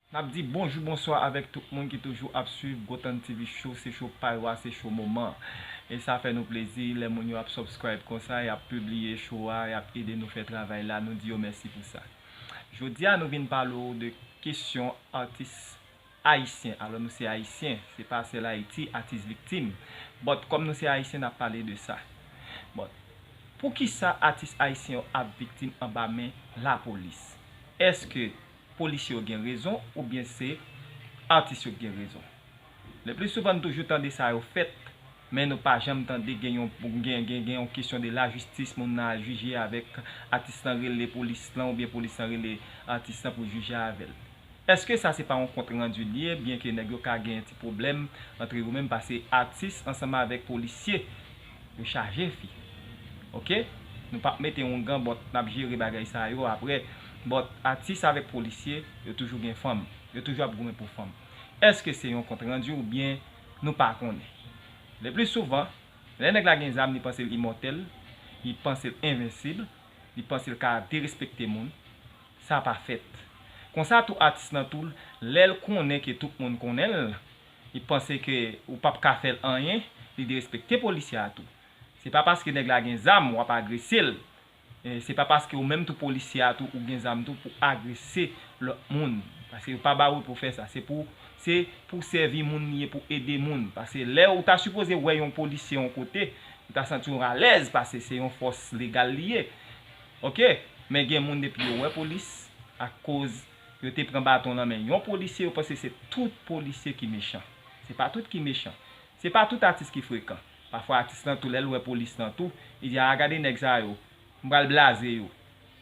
Nap di bonjou bonswa avèk tout moun ki toujou ap swiv Gothand TV show, se show pa yo a, se show moman an. E sa fè nou plezi lè moun yo ap subscribe konsa, yap pibliye show a, yap ede nou fè travay la, nou di yo mèsi pou sa. Jodi a nou vin pale w de kesyon atis Ayisyen alò nou se ayisyen se pa sèl ayiti atis viktim but kòm nou se ayisyen nap pale de sa but poukisa atis ayisyen yo ap viktim anba men lapolis eske polisye yo gen rezon oubyen se atis yo ki gen rezon le plis souvan nou toujou tande sa yo fèt Men nou pa janm tande gen yon gen yon kesyon de la jistis moun nan al jije avèk atis lan rele polis lan oubyen polis lan rele atis lan pou jije avèl. Eske sa se pa yon kont randu li ye byen ke nèg yo ka gen ti pwoblèm antre yo menm pase atis ansanm avèk polisye yo chaje fi ok nou pap mete yon gan but nap jere bagay sa yo aprè but atis avèk polisye yo toujou gen fanm yo toujou ap goumen pou fanm eske se yon kont randu oubyen Nou pa konnen. Le pli souvan, lè nèg la gen zam li panse l imòtèl, li panse l envensib, li panse l ka derespekte moun. Sa pa fèt. Konsa tou atis lan tou lè l konnen ke tout moun konnen l, li panse ke ou pap ka fè l anyen, li derespekte polisye a tou. Se pa paske nèg la gen zam w ap agrese l, Se pa paske ou menm tou polisye a tou ou gen zam tou pou agrese lòt moun. Paske yo pa ba ou pou fè sa. Se pou se pou sèvi moun li ye pou ede moun. Paske lè ou ta sipoze wè yon polisye yon kote, ou ta santi w alèz pase se yon fòs legal li ye. Ok. Men gen moun depi yo wè polis ak koz yo te pran baton lan men yon polisye yo panse se tout polisye ki mechan. Se pa tout ki mechan. Se pa tout atis ki frekan. Pafwa atis lan tou lèl wè polis lan tou li di aa gade nèg sa yo m pral blaze yo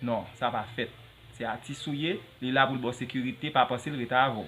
non sa pa fèt se atis ou ye li la poul baw sekirite pa panse l rete avèw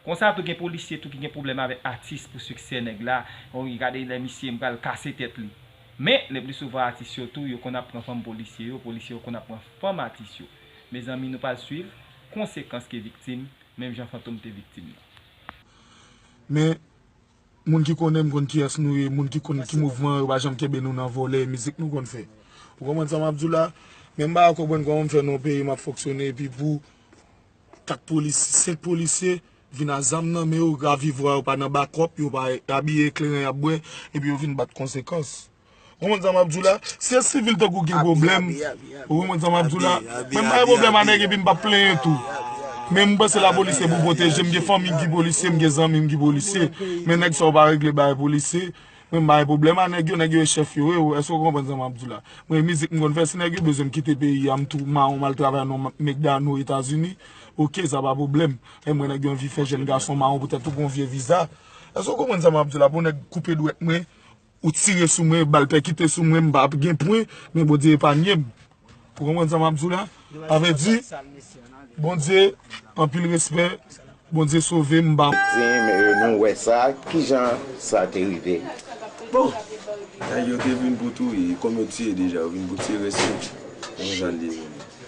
konsa tou gen polisye tou ki gen pwoblèm avè atis pou siksè nèg la wi gade lè misye m pral kase tèt li men le pli souvan atis yo tou yo konn ap pran fanm polisye yo polisye yo konn ap pran fanm atis yo mezanmi nou pral swiv konsekans ke viktim menm jan fantom te viktim nan. Men Moun ki konnen m konn kiyès nou ye, moun ki konn ki mouvman yo pa janm kenbe nou nan vòlè, mizik nou konn fè. Ou konprann sa map diw la? Men m paka konprann kòman m fè nan yon peyi map fonksyone epi pou 4 polis, 5 polisye vin a zam nan men yo, ravivwa yo pa nan bakòp, yo pa abiye ekleren yap bwè epi yo vin bat konsekans. Ou konn sa map diw la, si e sivil tankou gen pwoblèm, ou konprann sa map diw la, mwen pa gen pwoblèm a nèg epi m pa plenyen tou. Men mwen panse lapolis se pou pwoteje, mwen gen fanmi ki polisye, mwen gen zanmi ki polisye, men nèg sa yo pa regle bagay polisye, mwen pa gen pwoblèm a nèg yo, nèg yo e chèf yo, èske ou konprann sa map diw la. Mwen e mizik m konn fè, si nèg yo bezwen m kite peyi a, m tou mawon m al travay nan Mekdano, Etazini, ok sa pa pwoblèm. Èm wè nèg yo anvi fè jèn gason mawon poutèt ou gon vye viza. Èske ou konprann sa map diw la pou nèg koupe dwèt mwen. Ou tire sou mwen, bal pèkite sou mwen, m pa p gen pwen, men Bondye epanye m. Ou konprann sa m ap di w la? Sa vle di, Bondye, anpil respè, Bondye sove m, m pa. Di m, e nou wè sa, ki jan sa te rive? Bon! Nèg yo te vin pou touye, kòm yo tiye deja, yo vin pou tire sou m. Konn jan l deveni.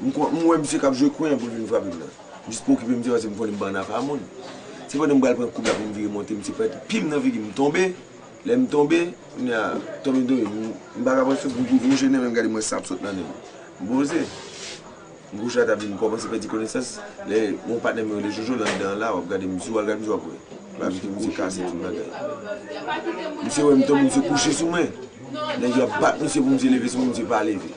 M wè misye kap jwe kwen pou l vin frape m nan. M jis pa okipe misye paske m konnen m pa nan afa moun. Se pandan m pral pran koub la pou m vire monte misye fè pim nan figi m. M tonbe, lè m tonbe, kounye a tonbe m tonbe m pa ka pran souf m tou vouche nen men m gade m wè san ap sot nan nen m. M poze, m gwoch la ta vin kòmanse pèdi konesans, lè yon patnè m yo rele Jojo lan dan la wap gade misye w al gade misye wap wè barbecue misye kase tout bagay. Misye wè m tonbe misye kouche sou mwen, nèg yo ap bat misye pou misye leve sou mwen misye pa leve.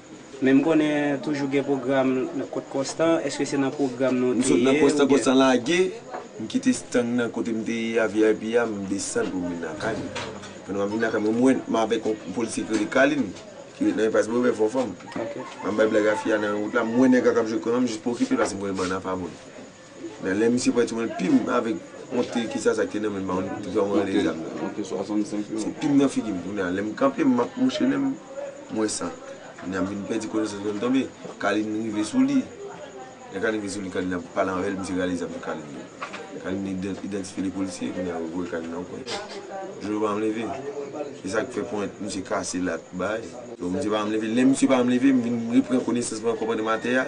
Men m konnen toujou gen pwogram nan kot konstan, eske se nan pwogram nan w te ye? M sot nan konstan, konstan lage, m kite stand nan kote m te ye a vip a, m desann pou m vin lakay m. Pandan m ap vin lakay m, m wè m avèk yon polisye ki rele Kalin, ki ret nan enpas Breuvè, Fò Fanm. M ap bay blag a fi a nan yon wout la, m wè nèg la k ap jwe kwen an, m jis pwokipe l paske m konnen bann an pa bon. Nan lè misye pran ti wèl pim avèk yon te kisa sa ki te nan menm an te fèm rale zam nan. Yon te 65 yo. Se pim nan figim kounye a lèm kanpe map mouche menm m wè san. Kounye a m vin pèdi konesans mwen tonbe Kalin rive sou li. Lè Kalin rive sou li Kalin ap pale avèl misye rale zam sou Kalin. Kalin idantifye 2 polisye kounye a yo voye Kalin nan pwen. Jojo pa janm leve. Se sak fè pwen misye kase la ak bagay. Misye pa janm leve. Lè misye pa janm leve m vin repran konesans mwen ak kòpandèm atè a.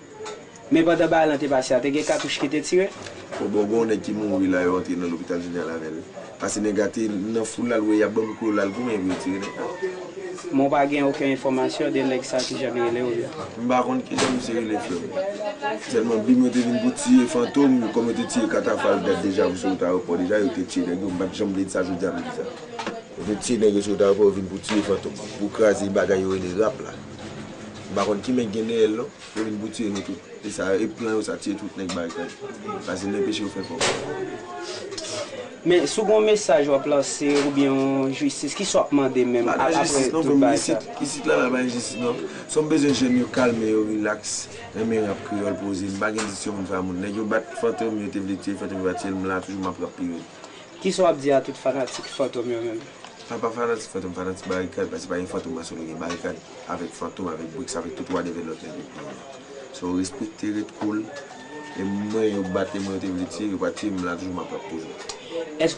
Men pandan bagay lan te pase a te gen katouch ki te tire? Fò bon gonw nèg ki mouri la yo antre nan lopital jeneral avèl pase nèg la te nan foul la l wè yap banm klo lal goumen pou yo tire nèg la. Men w pa gen oken enfòmasyon de nèg sa kijan li rele oubyen? M pa konn kijan misye rele frè m. Sèlman bgy mwen te vin pou tiye fantom kòm yo te tiye katafal dat deja pou sou wout ayewopò deja yo te tiye nèg yo m pat janm vle sa jodi a m di sa. Yo te tiye nèg yo sou wout ayewopò yo vin pou tiye fantom pou kraze bagay yo rele rap la. Nou pa konn ki men k gen dèyèl non. Yo vin pou tiye nou tout. E sa e plan yo sa tiye tout nèg barikad. Fasil denpeche yo fè kob. Men si w gon mesaj wap lanse oubyen yon jistis kisa wap mande menm apre tout bagay sa. Pa gen jistis non frè m isit, isit la la pa gen jistis non. Som bezwen jèn yo kalme yo relax, renmen rap kreyol poze, m pa gen diskisyon pou m fè a moun. Nèg yo bat fantom yo te vle tiyel fantom yo pa tiyel m la toujou map rap pi red. Kisa wap di a tout fanatik fantom yo menm. Mwen pa fanatik fantom m fanatik barikad paske pa gen fantom mwen sou li gen barikad avèk fantom avèk bricks avèk tout wadèvè lòt nèg yo ki vini so respekte ret cool e mwen yo bat e mwen yo te vle tiye yo pa tiye m m la toujou map rap toujou.